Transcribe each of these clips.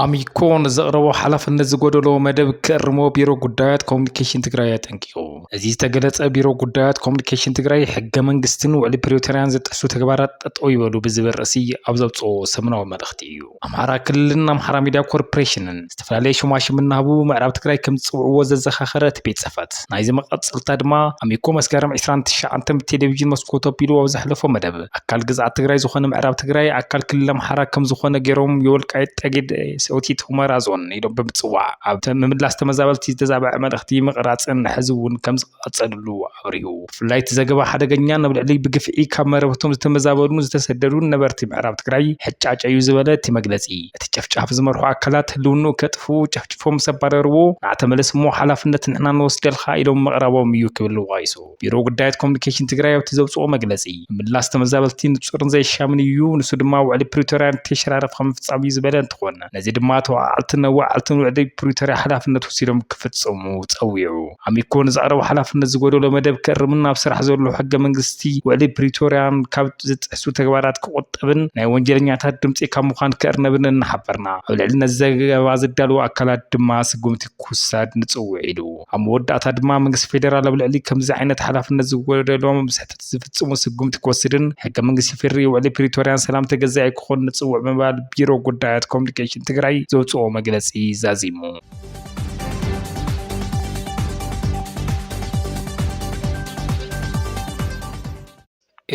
ኣሚኮ ንዘቕረቦ ሓላፍነት ዝጎደሎ መደብ ክእርሞ ቢሮ ጉዳያት ኮሚኒኬሽን ትግራይ ኣጠንቂቑ። እዚ ዝተገለጸ ቢሮ ጉዳያት ኮሚኒኬሽን ትግራይ ሕገ መንግስትን ውዕሊ ፕሪቶርያን ዝጥሕሱ ተግባራት ጠጠው ይበሉ ብዝብል ርእሲ ኣብ ዘውጽኦ ሰሙናዊ መልእኽቲ እዩ። ኣምሓራ ክልልን ኣምሓራ ሚድያ ኮርፖሬሽንን ዝተፈላለየ ሹማሽም እናሃቡ ምዕራብ ትግራይ ከምዝፅውዕዎ ዘዘኻኸረ እቲ ቤት ፅሕፈት፣ ናይዚ መቐፀልታ ድማ ኣሚኮ መስከረም ዕስራን ትሽዓተን ብቴሌቪዥን መስኮቱ ኣቢሉ ኣብ ዘሕለፎ መደብ ኣካል ግዝኣት ትግራይ ዝኾነ ምዕራብ ትግራይ ኣካል ክልል ኣምሓራ ከምዝኾነ ገይሮም የወልቃይት ጠገዴ ሰቲት ሁመራ ዞን ኢሎም ብምፅዋዕ ኣብ ምምላስ ተመዛበልቲ ዝተዛበዐ መልእኽቲ ምቕራፅን ሕዚ እውን ከም ኣጸልሉ ኣብሪሁ። ብፍላይ እቲ ዘገባ ሓደገኛ ናብ ልዕሊ ብግፍዒ ካብ መረበቶም ዝተመዛበሉን ዝተሰደዱን ነበርቲ ምዕራብ ትግራይ ሕጫጨ እዩ ዝበለ እቲ መግለጺ፣ እቲ ጨፍጫፍ ዝመርሑ ኣካላት ህልውንኡ ከጥፍኡ ጨፍጭፎም ምስ ኣባረርዎ ንዓ ተመለስ እሞ ሓላፍነት ንሕና ንወስደልካ ኢሎም ምቕራቦም እዩ ክብል ዋይሶ ቢሮ ጉዳያት ኮሙኒኬሽን ትግራይ ኣብቲ ዘውጽኦ መግለጺ ምምላስ ተመዛበልቲ ንጹርን ዘየሻምን እዩ ንሱ ድማ ውዕሊ ፕሪቶርያ ንተሸራረፍ ከምፍጻም እዩ ዝበለ እንትኾን ነዚ ድማ ተወዓዓልትን ኣወዓዓልትን ውዕሊ ፕሪቶርያ ሓላፍነት ወሲዶም ክፍጽሙ ጸዊዑ። ኣሚኮ ንዘቕረቦ ሓላፍነት ዝጎደሎ መደብ ክእርምን ኣብ ስራሕ ዘሎ ሕገ መንግስቲ ውዕሊ ፕሪቶርያን ካብ ዝጥሕሱ ተግባራት ክቑጠብን ናይ ወንጀለኛታት ድምፂ ካብ ምዃን ክእርነብን እናሓበርና ኣብ ልዕሊ ነዚ ዘገባ ዘዳልዉ ኣካላት ድማ ስጉምቲ ክውሰድ ንፅውዕ ኢሉ። ኣብ መወዳእታ ድማ መንግስቲ ፌደራል ኣብ ልዕሊ ከምዚ ዓይነት ሓላፍነት ዝጎደሎም ስሕተት ዝፍፅሙ ስጉምቲ ክወስድን ሕገ መንግስቲ ፌዴሪኢ ውዕሊ ፕሪቶርያን ሰላም ተገዛኢ ክኾን ንፅውዕ ብምባል ቢሮ ጉዳያት ኮሙኒኬሽን ትግራይ ዘውፅኦ መግለፂ ዛዚሙ።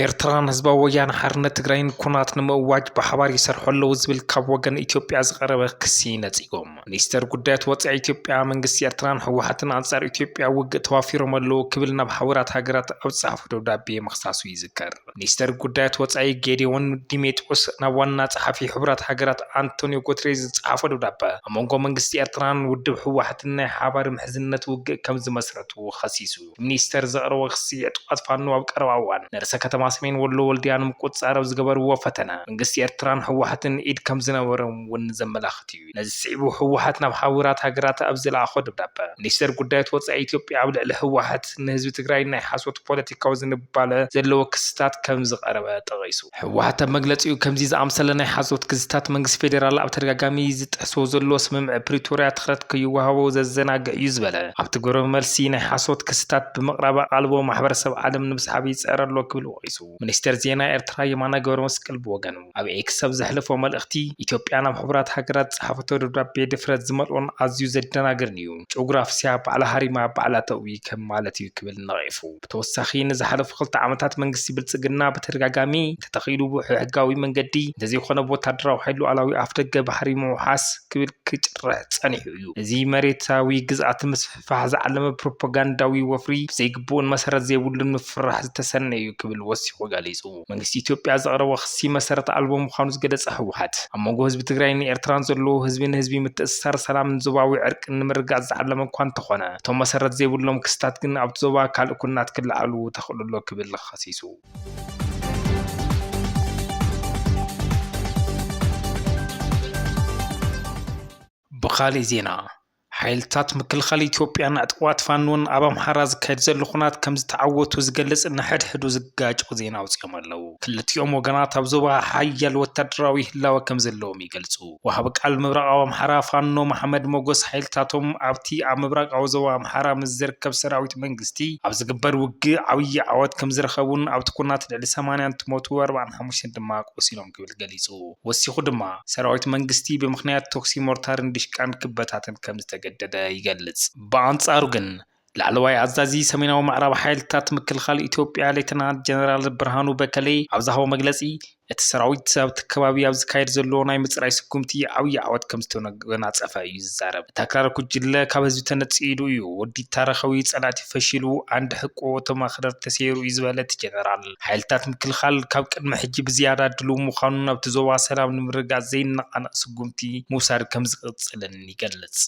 ኤርትራን ህዝባዊ ወያነ ሓርነት ትግራይን ኩናት ንምእዋጅ ብሓባር ይሰርሑ ኣለዉ ዝብል ካብ ወገን ኢትዮጵያ ዝቐረበ ክሲ ነጺጎም ሚኒስተር ጉዳያት ወፃኢ ኢትዮጵያ መንግስቲ ኤርትራን ህወሓትን ኣንጻር ኢትዮጵያ ውግእ ተዋፊሮም ኣለዉ ክብል ናብ ሓበራት ሃገራት ኣብ ዝጸሓፎ ደብዳቤ ምኽሳሱ ይዝከር። ሚኒስተር ጉዳያት ወጻኢ ጌዴዎን ዲሜጥሮስ ናብ ዋና ጸሓፊ ሕቡራት ሃገራት ኣንቶንዮ ጎትሬዝ ዝጸሓፎ ደብዳበ፣ ኣብ መንጎ መንግስቲ ኤርትራን ውድብ ህወሓትን ናይ ሓባር ምሕዝነት ውግእ ከም ዝመስረቱ ኸሲሱ። እቲ ሚኒስተር ዘቕረቦ ክሲ፣ ዕጡቓት ፋኖ ኣብ ቀረባ እዋን ንርእሰ ከተማ ሰሜን ወሎ ወልድያ ንምቁጽጻር ኣብ ዝገበርዎ ፈተነ፣ መንግስቲ ኤርትራን ህወሓትን ኢድ ከም ዝነበሮም'ውን ዘመላኽት'ዩ። ነዚ ስዒቡ ህወሓት ናብ ሓቡራት ሃገራት ኣብ ዝለኣኾ ደብዳበ፣ ሚኒስተር ጉዳያት ወጻኢ ኢትዮጵያ ኣብ ልዕሊ ህወሓት ንህዝቢ ትግራይ ናይ ሓሶት ፖለቲካዊ ዝንባለ ዘለዎ ክስታት ከምዝቐረበ ጠቒሱ። ህወሓት ኣብ መግለጺኡ፣ ከምዚ ዝኣምሰለ ናይ ሓሶት ክስታት መንግስቲ ፌደራል ኣብ ተደጋጋሚ ዝጥሕሶ ዘሎ ስምምዕ ፕሪቶርያ ትኽረት ከይወሃቦ ዘዘናግዕ እዩ ዝበለ ኣብቲ ግብረመልሲ ናይ ሓሶት ክስታት ብምቕራብ ኣቓልቦ ማሕበረሰብ ዓለም ንምስሓብ ይጽዕር ኣሎ ክብል ወቒሱ። ሚኒስቴር ዜና ኤርትራ የማነ ገብረመስቀል ብወገኑ ኣብ ኤክስ ኣብ ዘሕለፎ መልእኽቲ፣ ኢትዮጵያ ናብ ሕቡራት ሃገራት ዝጸሓፈቶ ደብዳቤ ድፍረት ዝመልኦን ኣዝዩ ዘደናግርን'ዩ። ጩግ ራፍስያ ባዕላ ሃሪማ ባዕላ ተእዊ ከም ማለት'ዩ ክብል ነቒፉ። ብተወሳኺ ንዝሓለፉ ክልተ ዓመታት መንግስቲ ብልጽግና ብተደጋጋሚ እንተተኺኢሉ ብሕሕጋዊ መንገዲ እንተዘይኮነ ብወታደራዊ ሓይሊ ሉኣላዊ ኣፍደገ ባሕሪ ምውሓስ ክብል ክጭርሕ ጸኒሑ እዩ። እዚ መሬታዊ ግዝኣት ምስ። ብፋሕ ዝዓለመ ፕሮፓጋንዳዊ ወፍሪ ብዘይግቡእን መሰረት ዘይብሉን ምፍርራሕ ዝተሰነየ እዩ ክብል ወሲኹ ገሊፁ። መንግስቲ ኢትዮጵያ ዘቕረቦ ክሲ መሰረት ኣልቦ ምዃኑ ዝገለፀ ህወሓት፣ ኣብ መንጎ ህዝቢ ትግራይን ኤርትራን ዘለዎ ህዝቢ ንህዝቢ ምትእስሳር ሰላምን ዞባዊ ዕርቂን ንምርግጋፅ ዝዓለመ እኳ እንተኾነ እቶም መሰረት ዘይብሎም ክስታት ግን ኣብቲ ዞባ ካልእ ኩናት ክለዓሉ ተኽእሎ ኣሎ ክብል ኸሲሱ። ብኻሊእ ዜና ሓይልታት ምክልኻል ኢትዮጵያን ዕጡቓት ፋኖን ኣብ ኣምሓራ ዝካየድ ዘሎ ኹናት ከምዝተዓወቱ ዝገልጽ ንሕድሕዱ ዝጋጮ ዜና ኣውጺኦም ኣለው። ክልቲኦም ወገናት ኣብ ዞባ ሓያል ወታደራዊ ህላወ ከምዘለዎም ይገልጹ። ወሃቢ ቃል ምብራቓዊ ኣምሓራ ፋኖ መሓመድ ሞጎስ ሓይልታቶም ኣብቲ ኣብ ምብራቓዊ ዞባ ኣምሓራ ምስ ዝርከብ ሰራዊት መንግስቲ ኣብ ዝግበር ውግእ ዓብዪ ዓወት ከምዝረኸቡን ኣብቲ ኹናት ልዕሊ ሰማንያ እንትሞቱ ኣርብዓን ሓሙሽተን ድማ ቆሲሎም ክብል ገሊጹ። ወሲኹ ድማ፣ ሰራዊት መንግስቲ ብምኽንያት ተኹሲ ሞርታርን ዲሽቃን ክበታተን ከም ዝተገደደ ይገልጽ። ብኣንጻሩ ግን፣ ላዕለዋይ ኣዛዚ ሰሜናዊ ምዕራብ ሓይልታት ምክልኻል ኢትዮጵያ ሌተናንት ጀነራል ብርሃኑ በከሌ ኣብ ዝሃቦ መግለጺ፣ እቲ ሰራዊት ኣብቲ ከባቢ ኣብ ዝካየድ ዘሎ ናይ ምጽራይ ስጉምቲ ዓብዪ ዓወት ከም ዝተጎናጸፈ እዩ ዝዛረብ። እታ ክራር ጉጅለ ካብ ህዝቢ ተነጺሉ እዩ፣ ወዲታ ረኸቢ ጸላእቲ ፈሺሉ፣ ዓንዲ ሕቆ እቶም ኣኽረርቲ ተሰይሩ እዩ ዝበለ እቲ ጀነራል፣ ሓይልታት ምክልኻል ካብ ቅድሚ ሕጂ ብዝያዳ ድሉው ምዃኑን ኣብቲ ዞባ ሰላም ንምርግጋጽ ዘይነቓነቕ ስጉምቲ ምውሳድ ከምዝቕጽልን ይገልጽ።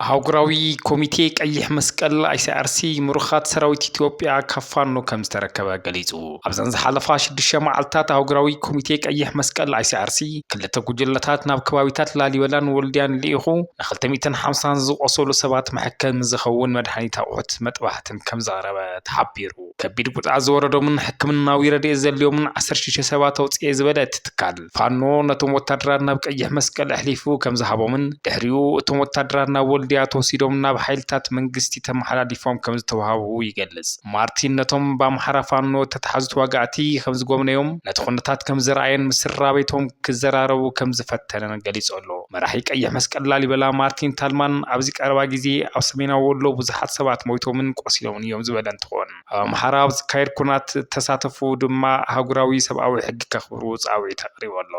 ኣህጉራዊ ኮሚቴ ቀይሕ መስቀል፣ ኣይሲኣርሲ፣ ምሩኻት ሰራዊት ኢትዮጵያ ካብ ፋኖ ከምዝተረከበ ገሊጹ። ኣብዘን ዝሓለፋ ሽዱሽተ መዓልትታት ኣህጉራዊ ኮሚቴ ቀይሕ መስቀል ICRC ክልተ ጉጅለታት ናብ ከባቢታት ላሊበላን ወልድያን ልኢኹ ንክልተ ሚእትን ሓምሳን ዝቖሰሉ ሰባት መሐከሚ ዝኸውን መድሓኒት ኣቑሑት መጥባሕትን ከምዘቕረበ ተሓቢሩ። ከቢድ ጉድኣት ዝወረዶምን ሕክምናዊ ረድኤት ዘድልዮምን ዓሰርተ ሽዱሽተ ሰባት ኣውፅኤ ዝበለ እቲ ትካል፣ ፋኖ ነቶም ወታደራት ናብ ቀይሕ መስቀል ኣሕሊፉ ከምዝሃቦምን ድሕሪኡ እቶም ወታደራት ናብ ወልድያ ተወሲዶም ናብ ሓይልታት መንግስቲ ተመሓላሊፎም ከምዝተውሃቡ ይገልፅ። ማርቲን ነቶም ብኣምሓራ ፋኖ እተታሕዙ ተዋጋእቲ ከም ዝጐብነዮም፣ ነቲ ዅነታት ከም ዝረኣየን ምስ ስድራቤቶም ክዘራረቡ ከም ዝፈተነን ገሊጹ ኣሎ። መራሒ ቀይሕ መስቀል ላሊበላ ማርቲን ታልማን ኣብዚ ቀረባ ግዜ ኣብ ሰሜናዊ ወሎ ብዙሓት ሰባት ሞይቶምን ቆሲሎምን እዮም ዝበለ እንትኾን፣ ኣብ ኣምሓራ ኣብ ዝካየድ ኵናት እተሳተፉ ድማ ኣህጉራዊ ሰብኣዊ ሕጊ ከኽብሩ ጻውዒት ኣቕሪቡ ኣሎ።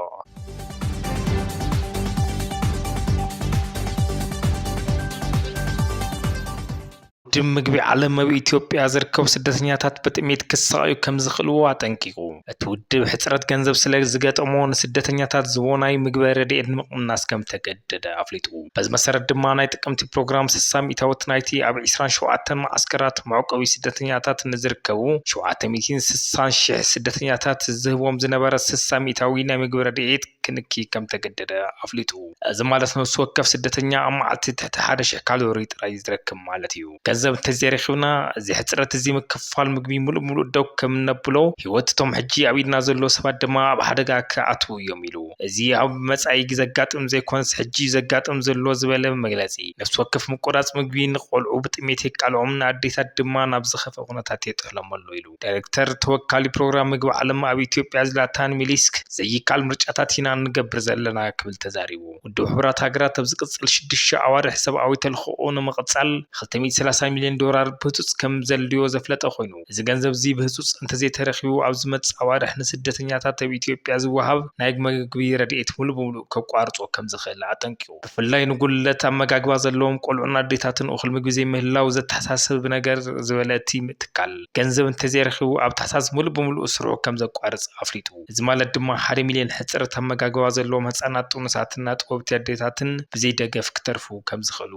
ውድብ ምግቢ ዓለም ኣብ ኢትዮጵያ ዝርከቡ ስደተኛታት ብጥሜት ክሳቐዩ ከምዝኽእልዎ ኣጠንቂቑ። እቲ ውድብ ሕፅረት ገንዘብ ስለዝገጠሞ ንስደተኛታት ዝህቦ ናይ ምግበ ረድኤት ንምቕናስ ከምተገደደ ኣፍሊጡ። በዚ መሰረት ድማ ናይ ጥቅምቲ ፕሮግራም ስሳ ሚእታዊት ናይቲ ኣብ ዕስራን ሸውዓተን መዓስከራት መዕቆቢ ስደተኛታት ንዝርከቡ ሸውዓተ ሚእቲን ስሳን ሺሕ ስደተኛታት ዝህቦም ዝነበረ ስሳ ሚእታዊ ናይ ምግቢ ረድኤት ክንኪ ከም እተገደደ ኣፍሊጡ። እዚ ማለት ነፍሲ ወከፍ ስደተኛ ኣብ መዓልቲ ትሕቲ ሓደ ሽሕ ካሎሪ ጥራይ ዝረክብ ማለት እዩ። ገንዘብ እንተ ዘይረኺብና፣ እዚ ሕጽረት እዚ ምክፍፋል ምግቢ ምሉእ ብምሉእ ደው ከም እነብሎ፣ ህይወት እቶም ሕጂ ኣብ ኢድና ዘለዉ ሰባት ድማ ኣብ ሓደጋ ክኣትዉ እዮም ኢሉ። እዚ ኣብ መጻኢ ዘጋጥም ዘይኰነስ ሕጂ እዩ ዘጋጥም ዘሎ ዝበለ መግለጺ፣ ነፍሲ ወከፍ ምቍራጽ ምግቢ ንቘልዑ ብጥሜት የቃልዖም፣ ንኣዴታት ድማ ናብ ዝኸፍኣ ኵነታት የጥሕሎም'ሎ ኢሉ። ዳይረክተር ተወካሊ ፕሮግራም ምግቢ ዓለም ኣብ ኢትዮጵያ ዝላታን ሚሊስክ ዘይካል ምርጫታት ኢና እንገብር ዘለና ክብል ተዛሪቡ። ውድብ ሕቡራት ሃገራት ኣብ ዝቅጽል ሽዱሽተ ኣዋርሕ ሰብኣዊ ተልኽኦ ንምቅጻል ክልተ ሚእቲ ሰላሳ ሚልዮን ዶራር ብህጹጽ ከም ዘድልዮ ዘፍለጠ ኮይኑ እዚ ገንዘብ'ዚ ብህጹጽ እንተዘይተረኪቡ ኣብ ዝመጽእ ኣዋርሕ ንስደተኛታት ኣብ ኢትዮጵያ ዝወሃብ ናይ መግቢ ረድኤት ሙሉእ ብሙሉእ ከቋርጾ ከም ዝኽእል ኣጠንቂቁ። ብፍላይ ንጉድለት ኣመጋግባ ዘለዎም ቆልዑን ኣዴታትን እኹል ምግቢ ዘይምህላው ዘተሓሳስብ ነገር ዝበለ እቲ ትካል፣ ገንዘብ እንተዘይረኺቡ ኣብ ታሕሳስ ምሉእ ብምሉእ ስርሑ ከምዘቋርፅ ኣፍሊጡ። እዚ ማለት ድማ ሓደ ሚልየን ሕፅረት ኣመጋግባ ዘለዎም ህፃናት፣ ጥኑሳትን ኣጥቦብቲ ኣዴታትን ብዘይደገፍ ክተርፉ ከምዝኽእሉ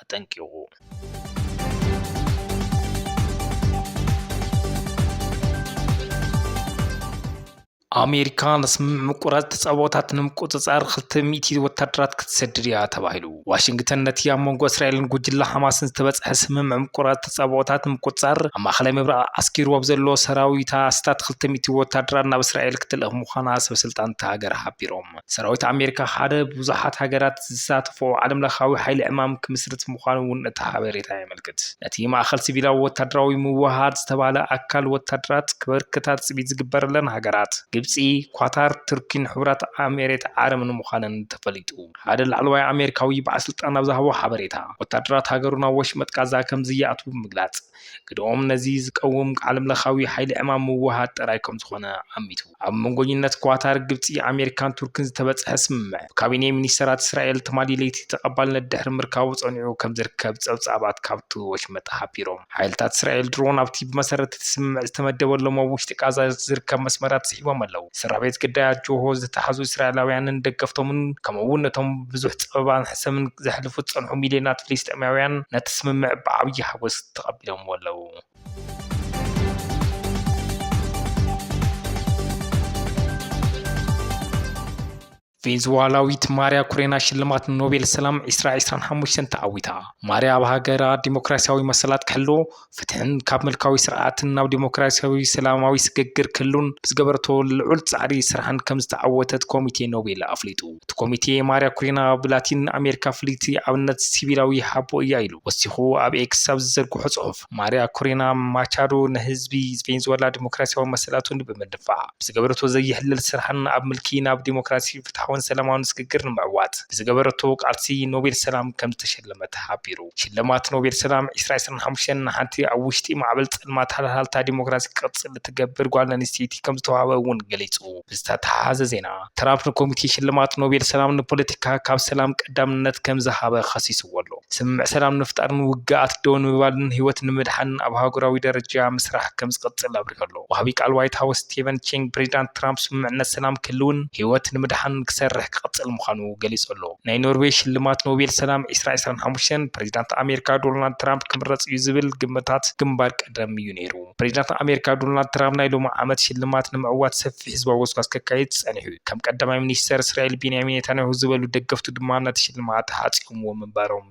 ኣጠንቂቑ። ኣሜሪካ ንስምምዕ ምቁራጽ ተጻብኦታት ንምቁጽጻር ክልተ ሚእቲ ወታደራት ክትሰድድ እያ ተባሂሉ። ዋሽንግተን ነቲ ኣብ መንጎ እስራኤልን ጉጅለ ሓማስን ዝተበጽሐ ስምምዕ ምቁራጽ ተጻብኦታት ንምቁጽጻር ኣብ ማእከላይ ምብራቕ ኣስኪሩ ኣብ ዘሎ ሰራዊታ ኣስታት ክልተ ሚእቲ ወታደራት ናብ እስራኤል ክትልእኽ ምዃና ሰበስልጣን እታ ሃገር ሓቢሮም። ሰራዊት ኣሜሪካ ሓደ ብዙሓት ሃገራት ዝሳተፍኦ ዓለምለኻዊ ሓይሊ ዕማም ክምስርት ምዃኑ እውን እቲ ሓበሬታ የመልክት። ነቲ ማእከል ሲቪላዊ ወታደራዊ ምውህሃድ ዝተባህለ ኣካል ወታደራት ክበርክታ ትጽቢት ዝግበረለን ሃገራት፣ ግብጺ፣ ኳታር፣ ቱርኪን ሕቡራት ኣሜሬት ዓረብን ምዃነን ተፈሊጡ። ሓደ ላዕለዋይ ኣሜሪካዊ በዓልስልጣን ኣብ ዝሃቦ ሓበሬታ፣ ወታደራት ሃገሩ ናብ ወሽመጥ ቃዛ ከምዘይኣትዉ ብምግላጽ፣ ግደኦም ነዚ ዝቀውም ዓለምለኻዊ ሓይሊ ዕማም ምውህሃድ ጥራይ ከምዝኾነ ኣሚቱ። ኣብ መንጎኝነት ኳታር፣ ግብጺ፣ ኣሜሪካን ቱርክን ዝተበጽሐ ስምምዕ፣ ብካቢኔ ሚኒስተራት እስራኤል ትማሊ ለይቲ ተቐባልነት ድሕሪ ምርካቡ ጸኒዑ ከምዝርከብ ጸብጻባት ካብቲ ወሽመጥ ሓቢሮም። ሓይልታት እስራኤል ድሮን ኣብቲ ብመሰረት እቲ ስምምዕ ዝተመደበሎም ኣብ ውሽጢ ቃዛ ዝርከብ መስመራት ስሒቦም ኣለዉ። ስድራቤት ግዳያት ጆሆ ዝተታሕዙ እስራኤላውያንን ደገፍቶምን ከምኡ'ውን ነቶም ብዙሕ ጸበባን ሰሙን ዘሕልፉ ዝጸንሑ ሚልዮናት ፍልስጤማውያን ነቲ ስምምዕ ብዓብዪ ሓጐስ ተቐቢሎምዎ ኣለዉ። ቬንዙዋላዊት ማርያ ኩሬና ሽልማት ኖቤል ሰላም ዕስራ ዕስራን ሓሙሽተን ተዓዊታ። ማርያ ኣብ ሃገራ ዲሞክራስያዊ መሰላት ክሕሎ ፍትሕን ካብ ምልካዊ ስርዓትን ናብ ዲሞክራሲያዊ ሰላማዊ ስግግር ክህሉን ብዝገበረቶ ልዑል ጻዕሪ ስራሕን ከምዝተዓወተት ኮሚቴ ኖቤል ኣፍሊጡ። እቲ ኮሚቴ ማርያ ኩሪና ብላቲን ኣሜሪካ ፍልይቲ ኣብነት ሲቪላዊ ሓቦ እያ ኢሉ ወሲኹ ኣብ ኤክስ ኣብ ዝዘርግሖ ጽሑፍ። ማርያ ኩሪና ማቻዶ ንህዝቢ ቬንዙወላ ዲሞክራሲያዊ መሰላቱ ንምድንፋዕ ብዝገበረቶ ዘይሕለል ስራሕን ኣብ ምልኪ ናብ ዲሞክራሲ፣ ፍትሓውን ሰላማውን ስግግር ንምዕዋት ብዝገበረቶ ቃልሲ ኖቤል ሰላም ከምዝተሸለመት ሓቢሩ። ሽልማት ኖቤል ሰላም ዕስራ ዕስራን ሓሙሽተን ንሓንቲ ኣብ ውሽጢ ማዕበል ፀልማት ሃልሃልታ ዲሞክራሲ ክቕፅል እትገብር ጓል ኣንስተይቲ ከምዝተውሃበ እውን ገሊፁ። ብዝተተሓሓዘ ዜና ትራምፕ ንኮሚቴ ሽልማት ኖቤል ሰላም ንፖለቲካ ካብ ሰላም ቀዳምነት ከምዝሃበ ኸሲስዎ ኣሎ። ስምምዕ ሰላም ንምፍጣርን ውግኣት ደው ንምባልን ህይወት ንምድሓንን ኣብ ኣህጉራዊ ደረጃ ምስራሕ ከምዝቕፅል ኣብሪሁ ኣሎ። ወሃቢ ቃል ዋይት ሃውስ ስቴቨን ቺንግ ፕሬዚዳንት ትራምፕ ስምምዕነት ሰላም ክህልውን ህይወት ንምድሓንን ክሰርሕ ክቕፅል ምዃኑ ገሊፁ ኣሎ። ናይ ኖርዌይ ሽልማት ኖቤል ሰላም ዕስራ ዕስራን ሓሙሽተን ፕሬዚዳንት ኣሜሪካ ዶናልድ ትራምፕ ክምረፅ እዩ ዝብል ግምታት ግንባር ቀደም እዩ ነይሩ። ፕሬዚዳንት ኣሜሪካ ዶናልድ ትራምፕ ናይ ሎሚ ዓመት ሽልማት ንምዕዋት ሰፊሕ ህዝባዊ ጎስጓስ ከካይድ ፀኒሑ እዩ። ከም ቀዳማይ ሚኒስተር እስራኤል ቤንያሚን ኔታንያሁ ዝበሉ ደገፍቱ ድማ ነቲ ሽልማት ሃፅዮምዎ ምንባሮም